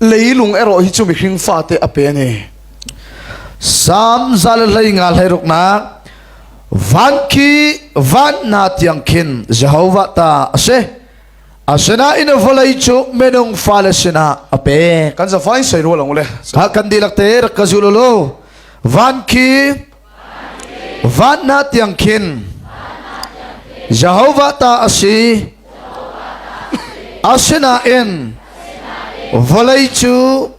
leilung erawh hi cu mihring fate a pe ani sam zal hlei nga hlei ruknak van khi van na tiang khin jehovah ta ase asinain vawlei cu minung fale sinah a pe kan sa fain sei rual ang le ha kan dilak te rak ka zul lo van khi Van hna tiang khin Jehovah ta a si. Asinain vawlei cu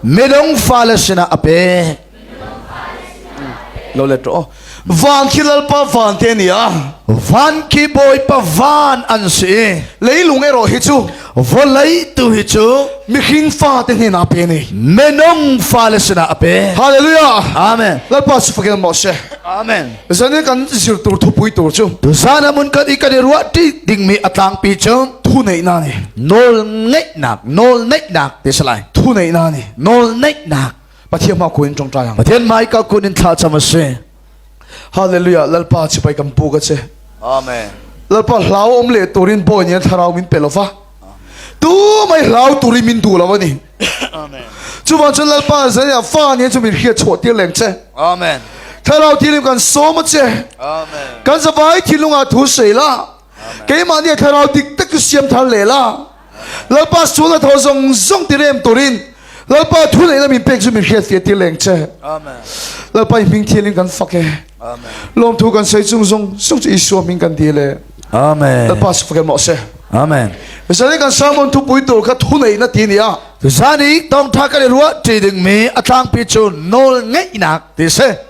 midong fale sinah a pek. Lo let rawh. Van khi lalpa van te nia. Van khi bawipa van an si. Leilung ero hi cu Vawlei tu hi cu mihrin fa te hnen a pe ni minung fa le sinah a pe Hallelujah Amen Lalpa su fakin mo se Amen Zane kan zir tur thu pui tur chu Tu sana mun kan i kan i ruah ti ding mi a tlang pi cu thu nei na ni nawl ngeih nak nawl ngeih nak te salai thu nei na ni nawl ngeih nak Pathian ma kuin tong ta yang Pathian mai ka kun in thla cham a si Hallelujah lalpa chi pai kam pu ka che amen lalpa hlau om le turin boy ni thlarau min pe lova tu mai hlau turin min du lova ni amen chu ban chun lalpa zai a fa ni chu min hria chho tir leng che amen thlarau tilim kan som che amen kan zavai thilunga thu sei la keimah nih thlarau dik tak ka siam thar le la lalpa sual a tho zong zong ti rem turin lalpa thu lei lamin pek chu min hriat fi ti leng che amen lalpa hming thil in kan fak e amen lom thu kan sei chung zong sung chu isua min kan di le amen lalpa su fake mo se amen misali kan samon thu pui tur kha thu nei na ti ni a tu sani tawngtha ka le ruah ti ding mi a tlang pi chu nawl ngeihnak ti se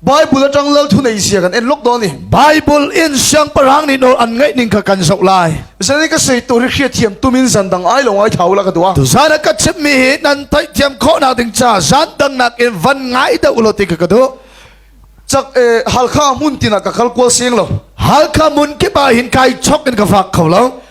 Bible atang lal thunei sia kan en lok do ni. Bible in siang parang ni nor an ngai ning kha kan zo lai. Sani ka sei tu ri khia thiam tumin zan dang ai lo ngai thau la ka tua. Tu zana ka chip mi hi nan tai thiam kho na ding cha zan dang nak in van ngai deu lo ti ka ka du. Chak eh halkha mun tina ka kal kwal seng lo. Halkha mun ke ba hin kai chok in ka fak kho lo.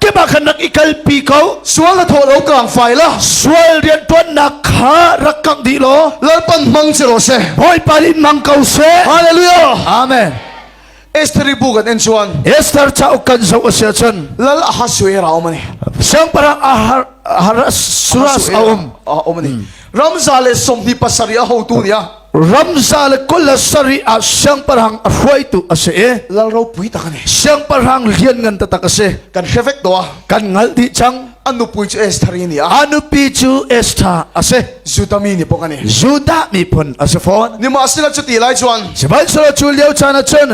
kemah khan rak i kalpi ko sual na thaw lo tlang fai la sual rian tuannak kha rak kangh dih law lalpan mang si ro se bawipa in mang ko se hallelujah amen Esther bu kan en chuan Esther cha kan zo sia chun lal ahasue ra om ani sang parang ahar har suras aum a om ani ramza le somhni pasarih a hotu nia ramza le kul le sarih ah siangpahrang a hruaitu a si i lal ropui tak ani siangpahrang lian ngan tatak a si kan hre vek do kan ngal di chang anu pui chu Esther ni a anupi chu Esther a si Judah mi ni pok ani Judah mi phun a si phone ni ma sila chu ti lai chuan sibainsara chu leo chan a chun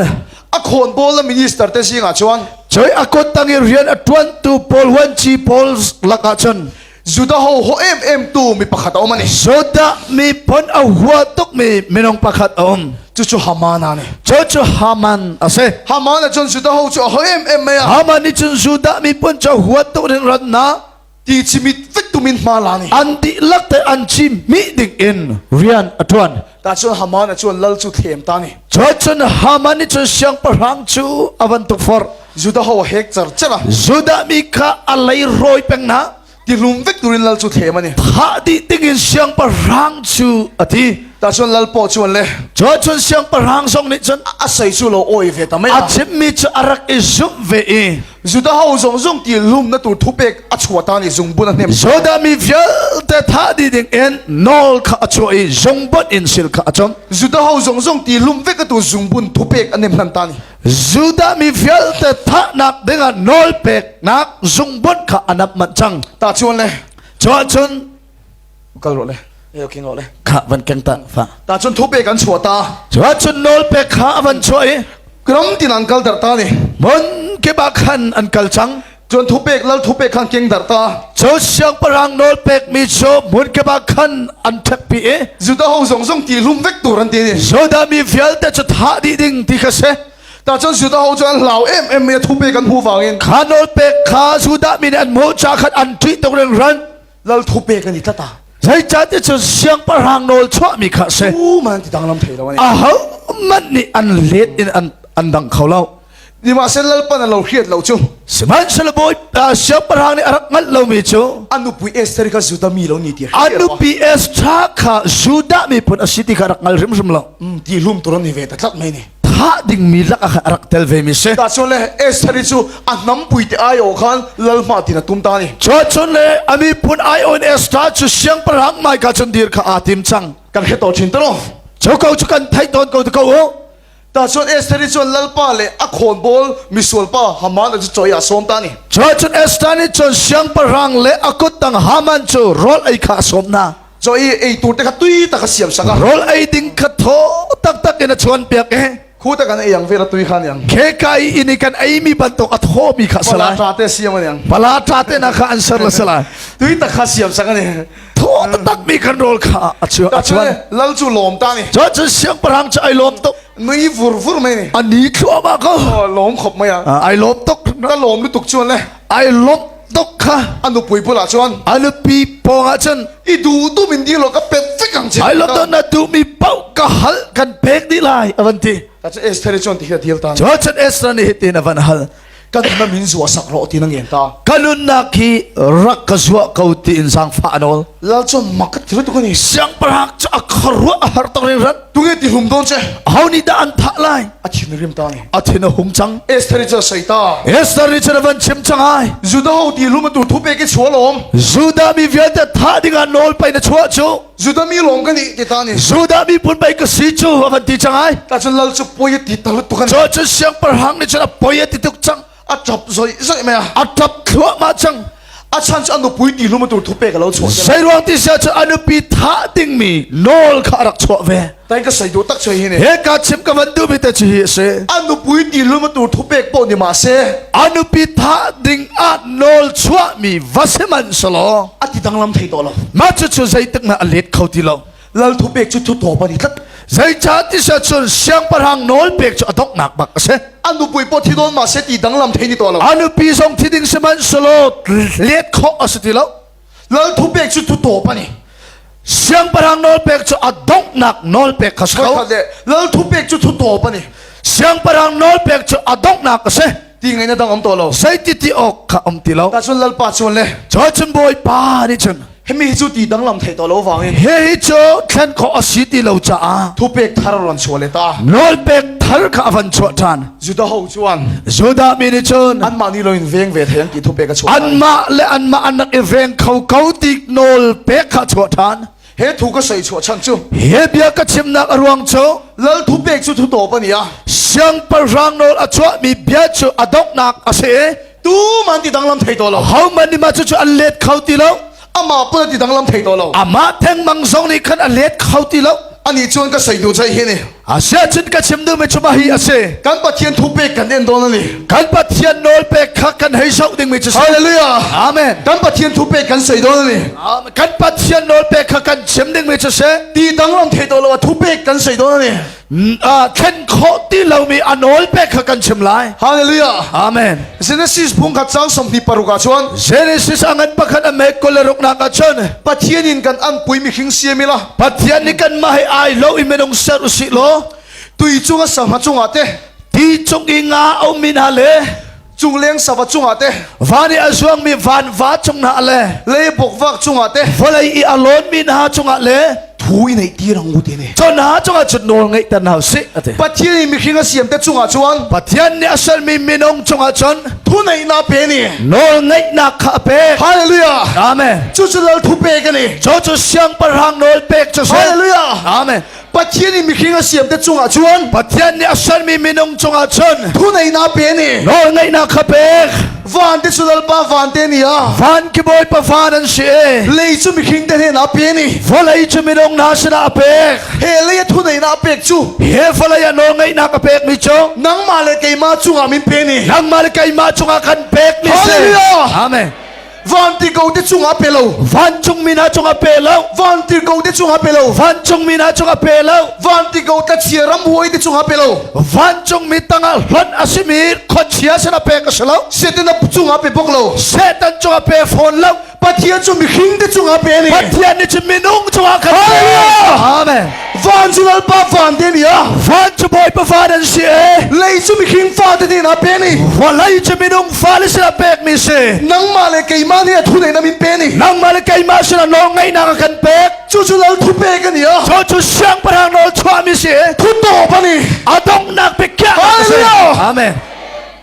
a khon bol la minister te singa chuan choi akot tangi rian a tuan tu Paul huan chi Paul laka chun Judah ho ho em em tu mi pakhat om ani. Judah mi pon a hua tuk mi minung pakhat om. Chu chu Haman ani. Chu chu Haman ase. Haman a chun Judah ho chu ho em em mai a. Haman ni chun Judah mi pon chu hua tuk ring ran na. Ti chimit vit tu min ma la ni. An ti lak te an chim mi ding in rian a tuan. Tahcun Haman a cun lal cu thlem ta ni. Cun Haman nih cun siangpahrang cu a van tuk forh. Judah ho a hek cer cer a. Judah mi kha a lei rawi peng na. Ti hlum vek turin lal cu thlem ani. Thah dih dingin siangpahrang cu a ti. Tahcun lal paw cu an le. Cun siangpahrang zong nih cun a sei cu lo awi ve ta mai. A chimmi cu a rak i zumh ve i. Judah ho zong zung ti lum na tu thu pek a chua ta ni zungbun a hnem. Judah mi vialte tha di ding in nawl kha a chuah i zungbun in sil kha a chon. Judah ho zong zung ti lum ve ka tu zungbun thu pek a nem hnan ta ni. Judah mi vialte tha nak dingah nawl pek nak zungbun kha anap mat chang. Ta chuan le. Chuah chun kal rawh le eh okay rawh le kha van keng ta fa ta chun thu pe kan chua ta chuah chun nol pe kha avan chuah i ram tin an kal dar ta ni mon ke ba khan an kal chang chun thu pek lal thu pek khan keng dar ta cho siang parang nol pek mi cho mun ke ba khan an thek pi e juda ho zong zong ti lum vek tur an ti ni joda mi vial te chu tha di ding ti kha se ta chun juda ho chu an lau em em me thu pe kan hu wangin kha nol pek kha juda min an mo cha khat an tri tok reng ran lal thu pe kan i tlat a zeicahti cun siangpahrang nawl chuahmi kha si u man ti danglam thei lo a ho hmanh nih an let in an an dang kho lo nimahsen lalpan an lo hriat lo cu sihmanhsehlaw bawi siangpahrang nih a rak hngalh lomi cu an nupi Esther kha Judah mi lo ni ti an nupi Esther kha Judah mi pun a si ti kha rak hngal hrimhrim lo ti hlum turon ni ve ta tlat mai ni thah dingmi lak ah a rak tel ve mi si tahchuan le Esther cu a hnam pui te ai o khan lal ma tin a tum ta ni chon le ami pun ai on Esther chu siang parang mai ka chun dir kha a tim chang kan he to chin tano choko chu kan thai don ko ko o ta chuan Esther chu lalpa le a khon bol misual pa haman chu choi a som ta ni chon Esther ni chon siang parang le akut tang haman chu rol ai kha som na Cho i ei tur te kha tui tak a siam saka. Rol ei ding kha tho tak tak in a chuan piak eh. Khu ta kan ei ang vera tui khan yang. Khe kai ini kan ei mi bantuk a tho mi kha sala. Pala te siam an yang. Pala ta te na kha an sar la sala. Tui tak kha siam saka ne. Tho tak mi kan rol kha a chuan a chuan. Lal chu lom ta ni. Cho chu siang parang cha ai lom tok. Nui vur vur mai ni. Ani thua ma ko. Lom khop mai à. Ai lom tok. Ta lom lu tuk chuan le. ai lawmh dok kha a nupui bulah chuan a nupi pawngah cun i duhtum in ding law ka pek vek ang che ai lo don na duh mi pauh ka hal kan pek ni lai avan ti ta chu Esther chuan ti hi a dil ta chu chan Esther ni tin avan hal kan na min zuwa sak ro ti nang yen ta kanun nak hi rak ka zuwa ko ti in sang fa anol lal chuan mak ka thiru tu ka ni siang parhak chu a kharwa a har tong rin ran tunge ti hum don che ho ni da an tha lai a chin rim ta ni a thin a hum chang Esther cha saita Esther ri chana van chim chang ai Judah ho ti lum tu thu pe ke chua lom Judah mi vialte tha dinga nol pai na chua chu Judah mi long kan ti ta ni Judah mi pun pai ka si chu a kan ti chang ai ka chun lal chu poi ti ta tu kan cho chu siang par hang ni chana poi ti tuk chang a ṭap zoihzoi mai a a ṭap thluahmah cang a chan cu a nupui ti hlum tu thupe ka lo chuah zei ruang ti sia cu a nupi thah dingmi nawl kha a rak chuah ve tai ka sai du tak choi hi ne he ka chim ka van du bi te chu hi se a nupui ti hlum tu thupek pawh ni ma se a nupi thah ding a nawl chuah mi va se man salo a ti danglam thei to lo ma chu chu zeitik na a let kho ti lo lal thu pek cu cu thaw pan i tlat zeica tisa cun siangpahrang nawl pek cu a donghnak bak a si anu pui po thi don ma se ti danglam thei ni to lo anu pi zong thi ding siman salo let kho a si ti lo lal thu pek cu thu to pani siangpahrang nawl pek cu a donghnak nawl pek kha sa lo lal thu pek cu thu to pani siangpahrang nawl pek cu a donghnak a si ti ngai na dang om to lo zeiti ti awk kha om ti lo ta cun lalpa chuan le George bawi pa nih cun hemi hi cu ti danglam thei to lo wangin he hi cu thlen kho asi ti lo caah thu pek thar ron chuah le ta nawl pek thar kha avan chuah tan juda ho chuan juda mi nih cun an mah ni lo in veng ve thei an ti thu pek a chuah an mah le an mah an rak i veng kho ko ti nawl pek kha chuah tan he thu ka soi chuah chan chu he bia ka chimnak a ruang cu lal thu pek chu thu to pania siangpahrang nawl a chuah mi bia cu a donghnak a si tu man ti danglam thei to lo ho man ni ma chu chu an let kho ti lo ama pa ti danglam thei to lo ama theng mang zong nih khan a let kho ti lo ani chuan ka sei du chai hi ni Asia chin ka chim nu mi chuma hi ase. Kan Pathian thu pek kan en don ani. Kan Pathian nawl pek kha kan hei sau ding mi chu. Hallelujah. Amen. Kan Pathian thu pek kan sei don ani. Kan Pathian nawl pek kha kan chim ding mi chu se. Ti dang long thei to lo thu pek kan sei don ani. thlen kho ti lo mi a nawl pek kha kan chim lai. Hallelujah. Amen. Genesis phung khat sang sompi paruka chuan Genesis angan pakhat a mek koleruk nak a chon. Pathian in kan an pui mi khing siamila. Pathian nih kanmah he ai lo i minung ser usih law tui cung a sangha cungah te ti cung i nga a ummi hna le cung leng sava cungah te van i a zuangmi van va cung hna le le bokvak cungah te vawlei i a lawnmi hna cungah le thu i nei tir ang u ti ni cun hna cungah cun nawl ngeih tan hau si a ti Pathian i mihring a siam te cungah chuan Pathian nih a sermi minung cungah cun thuneihnak pe ni nawl ngeihnak kha a pek hallelujah amen cucu lal thu pe ka ni cho chu siang parang nawl pek chu hallelujah amen Pathian in mihring a siam te chungah chuan Pathian nih a sermi minung chungah chun thuneihna pe ni nawl ngeihna kha pek van te chu lalpa van te ni a van ki bawi pa van an si e lei chu mihring te hnen a pe ni volei chu minung hna sinah a pek Khele thu nei na pek chu. He falai ano ngai na ka pek mi chu. Nangma le keima chunga min pe ni. Nangma le keima chunga kan pek ni se. Hallelujah. Amen. Van ti ko te chunga pe lo. Van chung mi na chunga pe lo. Van ti ko te chunga pe lo. Van chung mi na chunga pe lo. Van ti ko ta chia ram huai te chunga pe lo. Van chung mi tanga hlon asimi khonchia sena pe ka selo. Setan na chunga pe bok lo. Setan chunga pe phone lo. Pathian cu mihring te cungah pe ni. Pathian nih cun minung cungah kan Amen. Van cu lalpa van te ni a. Van cu bawipa van an si e. Lei cu mihring fa te ni na pe ni. Vawlei cu minung fa le sila pek mi si. Nangmah le keimah nih a thu nei na min pe ni. Nangmah le keimah sila nawl ngaihnak kan pek. Cu cu lal thu pe kan ni a. Cu cu siang parang nawl chuah mi si. Thu to pa ni. A donghnak pe kya. Amen.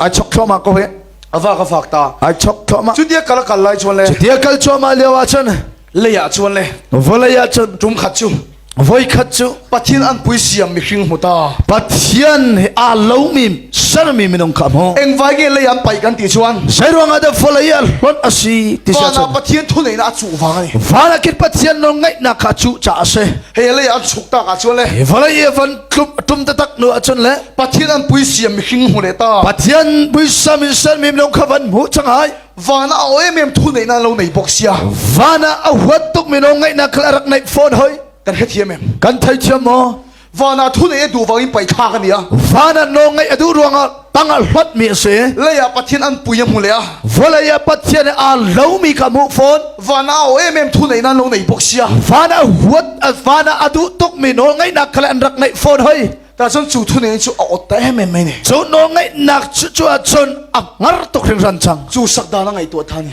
ai chok thluahmah ko hi avak avak ta ai chok thluahmah cu dia kala kal lai chuan le dia kal thluahmah lio ah cun leiah chuan le volei ah cun tum khat chu voi khat cu pathian an pui siam mi hring hmuta pathian hi aa lomi sermi minung kha mu eng vai ge lei an pai kan ti chuan sai ruanga da volei ah hlon asi ti sia chuan pathian thu nei na a chu wang ani vana kit pathian no ngai na kha chu cha ase he lei an chuk ta ka chuan le volei van tlup a tum te tak nu ahcun le Pathian an pui siam mi hring hmu le ta Pathian puisa mi sal mi lung kha van hmu chang ai van a oe mem thu nei na lo nei bok sia van a huat tuk mi no ngai na khal arak nei phone hoi kan hre thiam em kan thai thiam mo van a thu nei du wangin pai tha kan ia van a no ngai adu ruanga panga hlot mi si leiah pathian an pui a hmu le vawlei ah pathian aa lo mi ka hmuh fawn van a o em em thu nei nan lo nei bok sia van a huat van a adu tuk mi no ngai nak kale an rak ngai fawn hoi ta chun chu thu nei chu a ot ta em em mai ni chu no ngai nak chu chu a chun a ngar tuk rin ran chang chu sak da na ngai tu thani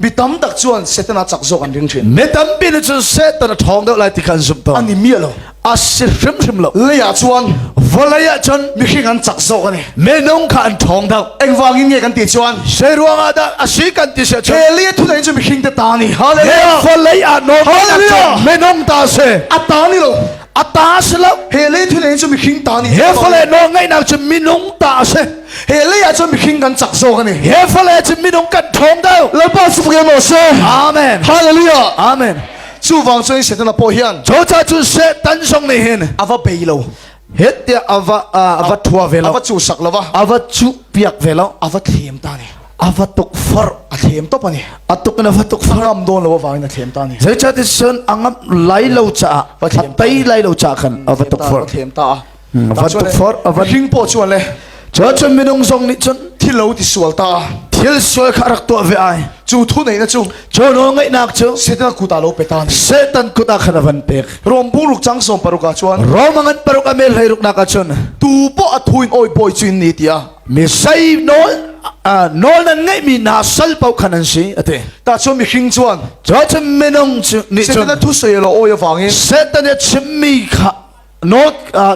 mi tam tak chuan Satan a chak zawk an ring thin mi tampi nih cun Satan a thawng deuh lai ti khan zumh tawn ani miah lo a si hrim hrim lo lei ah chuan vawlei ah cun mihring an chak zawk ani minung kha an thawng deuh engwangin nge kan ti chuan sei ruang ah dah a si kan ti se chu Eli thu dai chu mihring te ta ni hallelujah vawlei ah non minung ta se a ta ni lo ta si lo he le thil in chu mi khing ta ni he fale no ngai nak chu minung ta se he le ya chu mi khing kan chak so kan ni he fale chu minung kan thong dau la ba su ge mo se amen hallelujah amen chu wang chu satan la po hian cho cha chu satan song ni hin ava pe lo het tia ava ava thua ve lo ava chu sak lo va ava chu piak ve lo ava thlem ta ni a va tuk far a thlem top ani a tuk in a va tuk far am don lo wa ni a thlem ta ni zeicah ti sun angam lai lo caah va thlem tai lai lo caah khan a va tuk far thlem ta a va tuk far a va hing po chuan le cho chun minung zong nih chun thil lo ti sual ta thil sual kha rak tuah ve ai chu thu nei na chu cho no ngai nak chu setan kuta lo peta ni setan kuta khan van pek rom bu ruk chang som paruka chuan rom angan paruka mel hlai ruk naka chun tu po athuin oi boy chuin ni tia Misai nawl nawl nan ngeihmi hna sal paoh khan an si a ti. Tahchunh mihring chuan Jotham minung cu nih cun Satan thusuai lo awi avangin Satan a chimmi kha nawl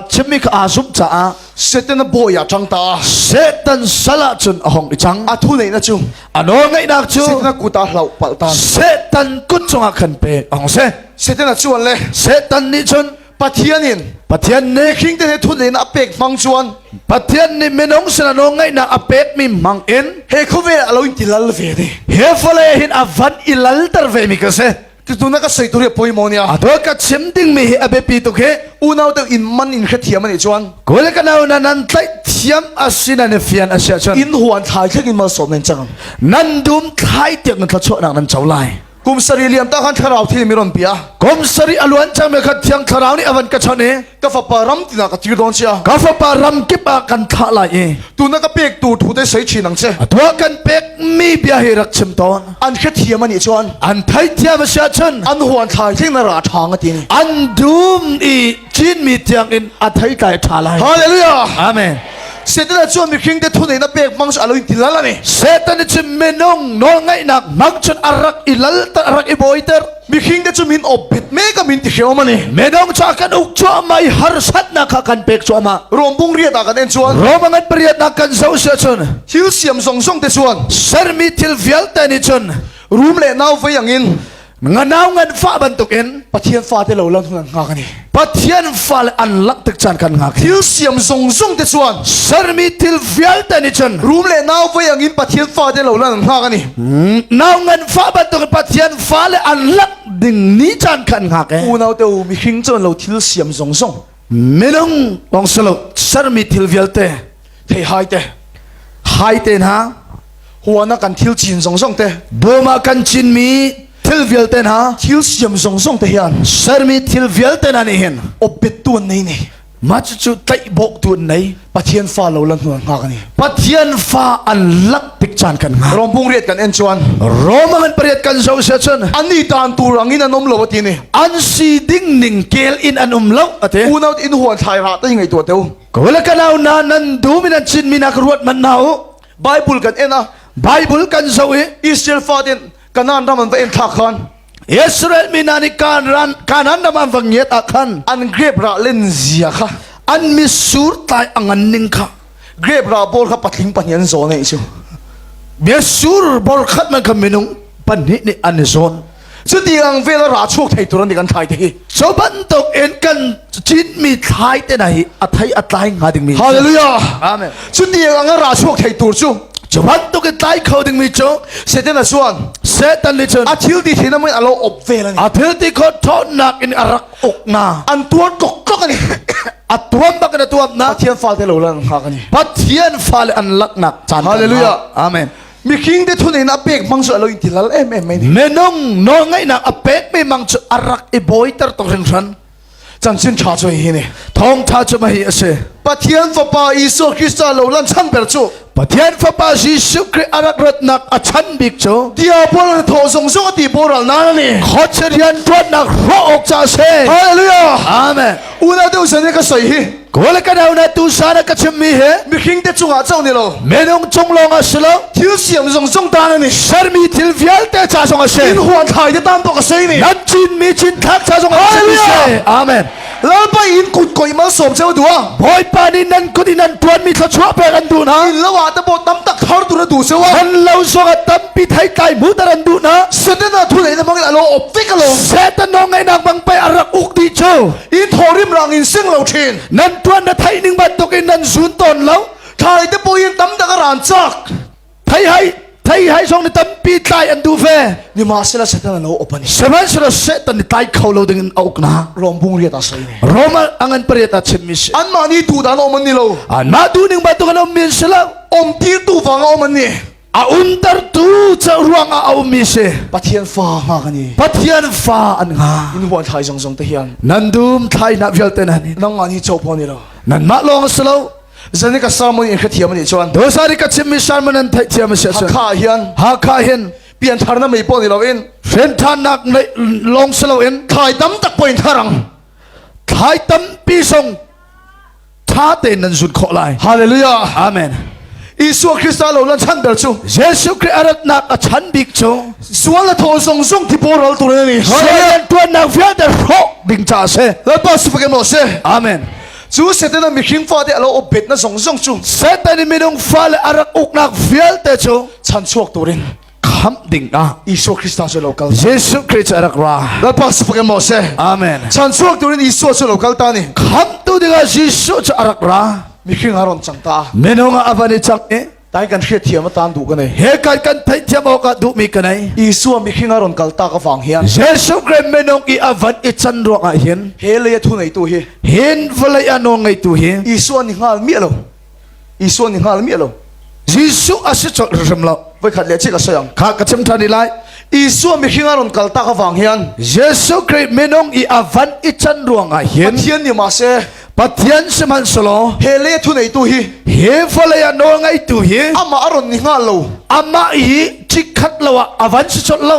chimmi kha aa zumh caah Satan a bawi a ṭang ta Satan sal ah cun a hong i cang a thu neihna cu a nawl ngaihnak cu Satan a kut ah hloh palh tan Satan kut cungah khan pek a hong si Satan a chuan le Satan nih cun Pathian in Pathian nih khing te thun in a pek mang chuan Pathian nih minung sinano ngaihnak a pek mi mang in he khuve a lo in tilal ve ne he fale hin a van i lal ter ve mi ka se tu na ka sei tu ri poi mo nia ato ka chim ding mi hi a biapi tuk hi unau te in man in kha thiam ani chuan kul ka nau na nan tlai thiam asina ne fian asia chuan in huan thlai thleng in mal som nen chang nan dum thlai tiak nan tla chho nak nan chau lai kum sari liam ta khan thlarau thi mi ron pia kum sari aluan chang me khat thiang thlarau ni avan ka chan e ka fapa ram tina ka tir don sia ka fapa ram kip a kan thla lai e tu na ka pek tu thu te sei chi nang che atua kan pek mi bia hi rak chim ton an khe thiam ani chon an thai thiam sia chun an huan thlai thing na ra thang atin an dum i chin mi tiang in a thai tlai tha lai hallelujah amen Satan cu mihring te thunei na pek mang chu alo in tilal ani. Satan cu minung nawl ngaihnak mang chun arak ilal ta arak iboiter. Mihring te cu min opbet me ka min ti hreom ani. Minung ca kan uk chuah mai harsatna kha kan pek chuah ma. Rombung riat ah kan en chuan. Robangat pariat nak kan zo sia chun. Thil siam zong zong te chuan. Sermi thil vialte ni chun. Rum le nau vei angin. nganau ngan fa bantukin pathian fa te lo lo nga kan i pathian fa le an lak tik chan kan nga thil siam zung zung te chuan sermi thil vialte ni chan rum le nau vai angin pathian fa te lo lan nga kan i nau ngan fa bantukin pathian fa le an lak ding ni chan kan nga ke unau te u mihring chon lo thil siam zung zung minung bong salo sermi thil vialte thei hai te hai te na huana kan thil cin zong zong te boma kan cin mi thil vialte na thil siam zong zong te hian sermi thil vialte na nih hin opet tuan nei ni ma chu chu tlaih bok tuan nei Pathian fa lo la hnual ngak ni. Pathian fa an lak pik chan kan nga. Rom pung riat kan en chuan. Roma ngan pariat kan zo se chun. Ani tan tu rangin an um lo ati ni. An si ding ning kel in an um lo ate. Unaut in huan thlai ra ta ngai tua teu. Kawla kanau na nan du min an chin minak ruat man na u. Bible kan en a. Bible kan zo i Israel fa din kanan ram an va en thak khan. Israel mi hna nih Kanaan ram an van ngiat ah khan an grape ra len zia kha an mitsur tai a ngan ning kha grape ra bol kha patling pahnih an zawn ai chu mitsur bol khat man kha minung pahnih nih an zawn cu ti ang vel ra chuak thei turan ti kan thai te hi So bantuk in kan citmi thlai te na hi a thai a tlai nga ding mi Hallelujah Amen Cu ni ang a ra suak thei tur cu Cu bantuk in tlai kho ding mi cu Satan a suan Satan nih cun a thil ti thina mun alo op ve la ni a thil ti kho thawnak in a rak uk nga an tuan tlok tlok ani a tuan bak in a tuan na Pathian fa te lo lang kha ka ni Pathian fa le an laknak chan Hallelujah Amen Mikhing te thun in a pek mang cu alo in tilal em em mai ni. Menung nawl ngaihnak a pek me mang cu arak i boi ter tok rin hran. Chanchin tha cu hi ni. Thong tha cu mai ase. Pathian fapa Isu Krista lo lan chan ber cu. Pathian fapa Jesuh Christ arak ratnak a chan bik cu. Diabol na tho zong zong ati boral na ni. Khotcherian tuannak ro ok cha se. Hallelujah. Amen. Una tu sani ka soi hi. Kawl ka dau na tu sa na ka chim mi he mihring te cungah chong ni lo menung cung long a si lo thil siam zong zong ta na ni sermi thil vialte cha song a se in huan khai te tam tok a sei ni nan chin mi chin thlak cha song a si se amen lalpa in kut koi mal som cheu dua bawipa ni nan kut in nan tuan mi thla chuah pek an du na in lawa ta bo tam tak thar tu na du se wa an lo song a tam pi thai tlai mu tar an du na sete na thu le na mangin alo op ve ka lo setan nong ngai nak bang pe arak uk di chu i thawrim rang in sing lo thin nan tuan na theih ning bantuk in nan zun ton lo thlai te puin tam tak a ran chak thei hai thei hai song ni tampi tlai an du ve ni ma sela satan lo open seven sela se tan ni tlai kho lo ding in auk na rom bung riat asai ne rom angan pariat a chimmi si an ma ni tu dan om ni lo an ma tu ning bantuk lo min sela om tir tu wang om ni a umtertu cu ruangah a ummi si Pathian fa nga kan i Pathian fa an nga in huan thlai zong zong te hian nan dum thlai na vialte nan nang ni chopo ni lo nan mah lawng si lo zani ka sermon in ka thiam ni chuan dosari ka chim mi sharma nan thai thiam si chuan hakha hian hakha hin pian thar na mei pon ni lo in hren than nak long si lo in thlai tam tak poin tharang thlai tam pi song ṭha tein nan zun khawh lai hallelujah amen Isua Krista lo lan chan ber cu Jesuh Christ a ratnak a chan bik cu sual a thaw zong zong ti boral tu nan ni Satan tuannak vialte hrawk ding ca se Lalpa su fakin mo se amen cu Satan a mihring fa te alo obet na zong zong cu Satan in minung fa le a rak uknak vialte cu chan chuak turin khamh dingah Isua Kristus cu lo kal Jesuh Christ a rak ra Lalpa sipakin Moses Amen chan chuak turin Isua cu lo kal ta ni khamh tu dingah Jesuh cu a rak ra mihring a ron chang ta minung a van i chang i tai kan hriat thiam atan du ka nei he kan kan thai thiam awk du mi ka nei Isua mihring a ron kal ta ka wang hian Jesuh Christ minung i a van i chan ruang ah hin he le thu nei tu hi hin vlei anu ngai tu hi Isua ni ngal mi lo Isuan ni ngal mi lo. Jesuh a si chol rim lo. Voi khat le chi ka sayang. Kha ka chim tha ni lai. Isuwa mi hinga ron kal ta ka wang hian. Jesu Christ minung i avan i chan ruang ah hin. Pathian ni ma se. Pathian siman solo. He le thu nei tu hi. He fole ya nol ngai tu hi. Ama aron ni nga lo. Ama hi chikhat lo avan si chol lo.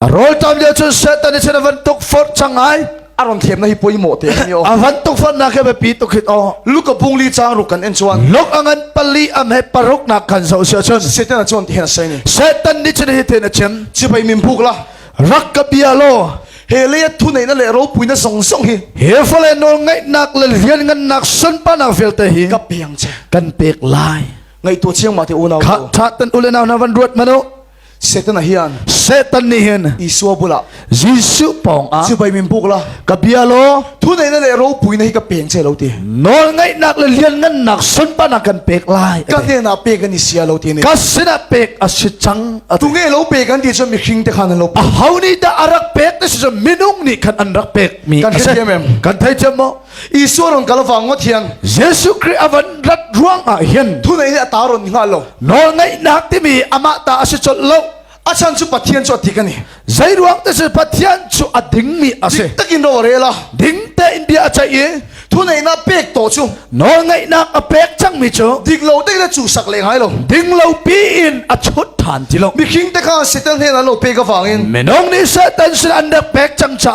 A rawl tam lio cun Satan nih cun a van tuk forh cang ai. A ron thiam na hi poi mawh te ni o. A van tuk forh nak he biapi tuk hit o. Lu ka bung li chang ruk kan en chuan. Lok angan pali am he paruk nak kan zo sia cun. Satan a chuan ti hen sai ni. Satan nih cun hi ten a chem. Chibai min buk la. Rak ka bia lo. He le thu nei na le ro pui na zong zong hi. He fale nol ngai nak le lian ngan nak sun pa na vel te hi. Ka piang che. Kan pek lai. Ngai tu chiang ma te unau. Khat tha tan ule na van ruat mano. Satan hian Satan nih hin Isua bulah Jesuh pawng ah sipai min buk la ka bia law thu neina le ropui na hi ka peng che lo ti nawl ngaihnak le lianngannak sunpanak kan pek lai ka hnenah pek kan i sia lo ti ni ka sinah pek a si cang tu nge lo pe kan ti cun mihring te khan an lo pe a ho nih dah a rak pek na si cun minung nih khan an rak pek mi kan thei thiam em kan thei thiam mo Isuwa rong kala wang thiang Jesu Christ avan rat ruang ah hin thu nei ne ta ron nga lo nawl ngai nak timi ama ta asi chol lo achan chu pathian chu ati kani zai ruang te chu pathian chu a ding mi ase takin ro re la ding te in bia a chai thu nei na pek to chu nawl ngai nak a pek chang mi chu dik lo te le chu sak le ngai lo ding lo pi in a chut than ti lo mi khing te kha setan he na lo pe ka wangin menong ni satan sin an rak pek chang cha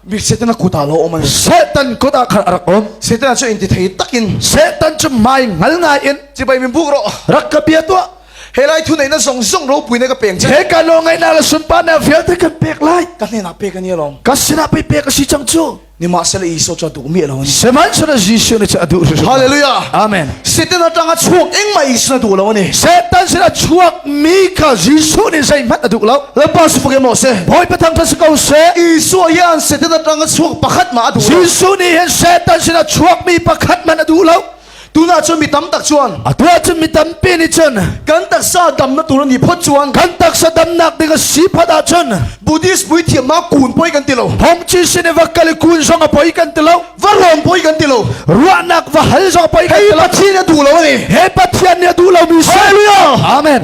Mi Satan kut ah lo om an Satan kut ah khan arak om Satan cu in ti thei takin Satan cu mai ngal ngai in chibai min buk ro rak ka bia tua helai thu nei na zong zong ro pui ne ka peng che he ka lo ngai na la sun pa na fial te kan pek lai ka hne na pe ka ni lom ka sina pe pe ka si chang chu ni ma sele iso cho tu mi lo ni seman sala jesu ne cha adu hallelujah amen satan atanga chuak eng mai sna du lo ni satan sila chuak mi kha Jesuh nih zeihmanh a duh lo lalpa si buk maw se bawi pathang than si ko se Isua hi an se tana tang a chuak pakhat mah a duh lo Jesuh nih hin Satan sinah chuak mi pakhat man a duh lo tuna cu mi tam tak chuan a tua cu mi tampi nih cun kan taksa dam na tur ni phot chuan kan taksa dam nak ding a si phot ah cun Buddhist vui thiam ma kun poi kan ti lo Hong Chi sin va kali kun zong a poi kan ti lo va lawng poi kan ti lo ruahnak va hal zong poi kan ti lo Pathian a duh lo ni he Pathian nih a duh lo mi hallelujah amen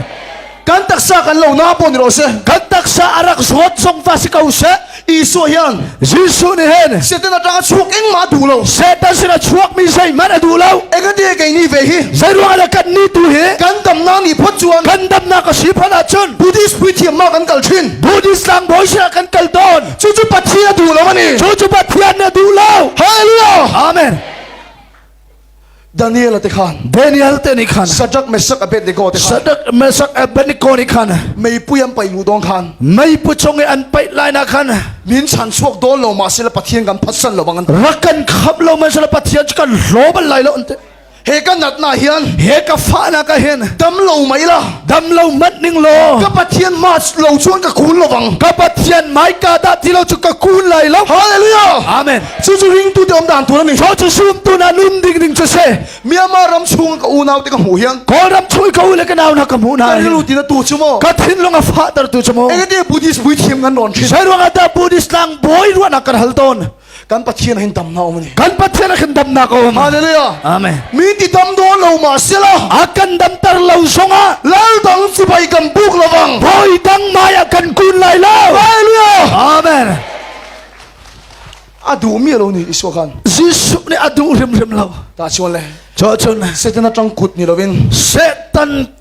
kan taksa kan lo na pon ro se kan taksa arak zot song va si ko se Isu hian Jesu ni hen Satan atanga chuak eng ma du lo Satan sina chuak mi sei man adu lo Ega de kai ni ve hi Zai ruang ala kan ni tu hi Kan dam na ni phot chuan Kan dam na ka si phana chun Buddhist preaching ma kan kal thin Buddhist lang boy sina kan kal don cucu pathian a duh lo ani cucu pathian na duh lo hallelujah amen Daniel te khan Daniel te ni khan Shadrach Meshach Abednego te khan Shadrach Meshach Abednego ni khan mei pui an pai lu dong khan mei pu chung i an pai lai na khan min chan chuak dol lo ma sila pathian kan phasan lo bang an rakan khap lo ma sila pathian chu kan lo bal lai lo ante he ka nat na hian he ka fa na ka hin dam lo mai la dam lo mat ning lo ka pathian ma lo chuan ka kun lo bang ka pathian mai ka da ti lo chu ka kun lai lo hallelujah amen chu chu ring tu te om dan tu ni cho chu sum tu na nun ding ding chu se myanmar ram chung ka unau te ka hmu hian kol ram chung ka u le ka nau na ka hmu na ka ru ti na tu chu mo ka thin longa fa tar tu chu mo engate buddhist vui thiam ngan ron thin sai ruanga ta buddhist lang boi ruana kan hal ton kan pathian hin dam na um ni kan pathian a kan damnak a um hallelujah amen mi ti dam do lo ma sila a kan dam tar lo zonga lal dang sipai kan buk lovang voi dang mai a kan kun lai lo hallelujah amen a duh mi lo ni isua khan jesu ni a duh rim rim lo ta chuan le cho chun setan atang kut ni lovin setan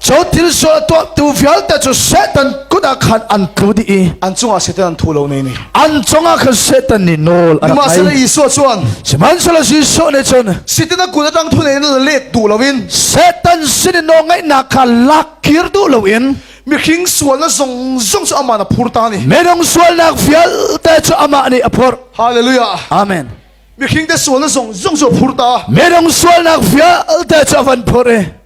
Cho thil sual tuahtu vialte cu Satan kut ah khan an tlu dih i an cungah Satan an thu lo nei ni an cungah khan Satan nih nawl a rak ngai Isua chuan sihmanhsehlaw Isua nih cun Satan a kut atang thu nei na let duh loin Satan sin i nawlngaihnak kha lak kir duh loin mihring sualna zong zong cu amah na phur ta ni minung sualnak vialte cu amah nih a phur hallelujah amen mihring te sualna zong zong cu phur ta minung sualnak vialte cu a van phur i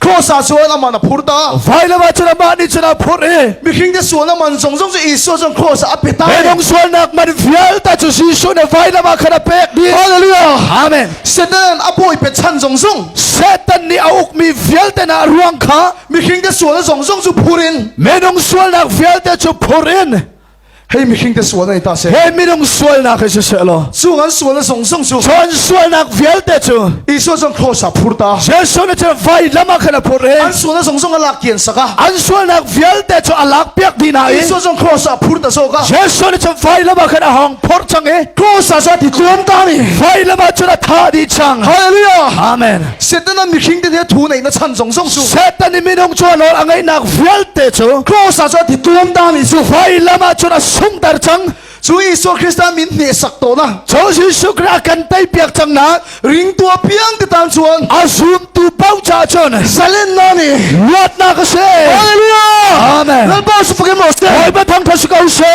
Cross ah sual aman a phur ta. Vailawa cu amah nih cun a phur i mihring te sual aman zong zong cu Isua cun cross ah a pe ta. Hedong sualnak man vialte cu Jesuh nih vailawa khan a pek di. Hallelujah. Amen. Satan a bawi pe chan zong zong Satan nih a ukmi vialte na ruang kha mihring te sual zong zong cu phur in menung sualnak vialte cu phur in Hei mihring te sual nei ta se. He minung sualnak he siseh law. Cu kan sualna zong zong cu. Cun sualnak vialte cu. Isua zong khrosa phur ta. Jesuh na chan vai lam ah khan a phur i. An sualna zong zong a lak kian saka. An sualnak vialte cu a lak piak di na in. Isua zong khrosa phur ta soka. Jesuh na chan vai lam ah khan a hong phur chang i. Khrosa sa ti tuam ta ni. Vai lam ah cun a tha di chang. Hallelujah. Amen. Satan an mihring te thu nei na chan zong zong cu Satan i minung chuan or a ngaihnak vialte cu cross ah cun thi tuam dang i cu vailam ah cun a sung ter cang cu Isu Krista min hne sak to na cho Jesu Christ kan tai piak cang na ring tua piang te tan chuan a zum tu pau cha chon salin na ni luat na ka se Hallelujah Amen Lalpa su fukin mo se Oi ba thang phasu ka se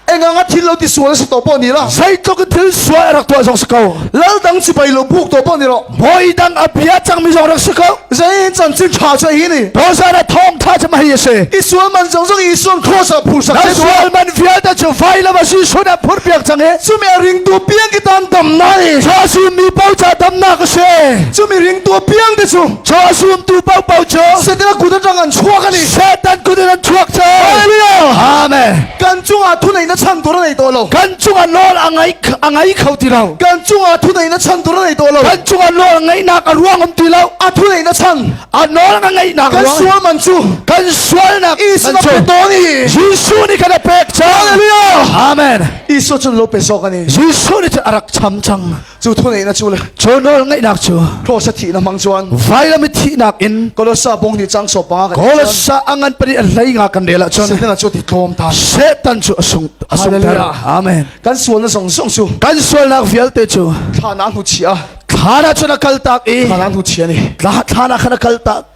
Engang a thil lo ti sual sa to po ni la. Zeitluk in thil sual a rak tuah zong si ko. Lal dang sipai lo buk to po ni lo. Moi dang a bia cang mi zong rak si ko. Zein chan chin tha cha hi ni. Bo sa na thong tha cha mai se. Isual man zong zong isual cross a phu sak. Na sual man vial ta chu vai la ba si shun a phur piak chang he. Chu me ring tu piang ki ton dam nai. Cho su mi pau cha dam na ka se. Chu mi ring tu piang te chu. Cho sum tu pau pau cho. Setila kuda tang an chuak ani. Satan kuda an chuak cha. Hallelujah. Amen. kan cungah thunei na chan tur a nei to lo kan cungah nawl a ngai a ngai kho ti lo kan cungah thunei na chan tur a nei to lo kan cungah nawl ngaihnak a ruang um ti lo a thunei na chan a nawl ka ngaihnak kan sual man cu kan sualnak Isuwa pe to ni Jesu ni kan pek cha Hallelujah Amen Isuwa cun lo pe so kan ni Jesu ni a rak cham chang Cu thuneihnak cu le Cu nawl ngaihnak cu Kolossa thihnak hmang chuan vailam i thihnak in Kolossa bong ni chang so pa kan Kolossa a ngan pari a hlei nga kan rel ah cun Satan cu ti tlawm ta Satan cu a sung a sung ter amen kan sualna song song cu kan sualnak vialte cu thla na hnu chia thla na cun a kal tak i thla na hnu chia ni thla thla na khan a kal tak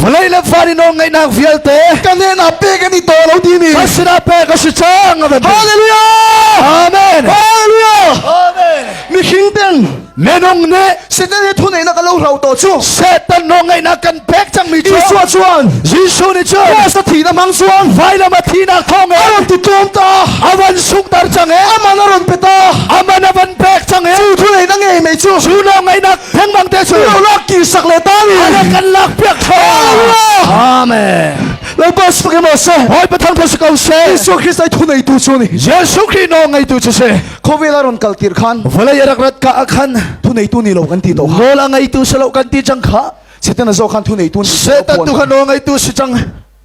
vawlei le van i nawlngeihnak vialte ka hnenah pe kan i to lo ti ni ka sinah pe ka si cang a kan ti hallelujah amen hallelujah amen mihring ten nenong ne satan he thunei na ka lo hlau to chu satan nawlngeih na kan pek cang mi chu Isua chuan Jesuh ni chu Krista thi na mang chuan vailam a thi na thong e aron ti tum ta awan suk tar chang e aman aron pe ta aman avan pek chang e chu thunei na ngei mai chu chu nawlngeih na Lengmang te cu. Lo ki sak le ta ni. Ale kan lak piak tha. Amen. Lo ba su ke mo se. Hoi pathang tho se kau se. Yesu Christ ai thu nei tu chu ni. Yesu Christ no ngai tu chu se. Khowela ron kal tir khan. Vale yarak rat ka akhan. Thu nei tu ni lo kan ti to. Mol angai tu se lo kan ti chang kha. Setan zo khan thu nei tu. Setan tu khan no ngai tu si chang.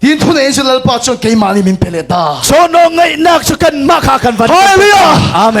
Tin thune in Lalpa cu keimah nih min pe let ta. So no ngaihnak cu kan mah kha kan van. Hallelujah. Amen.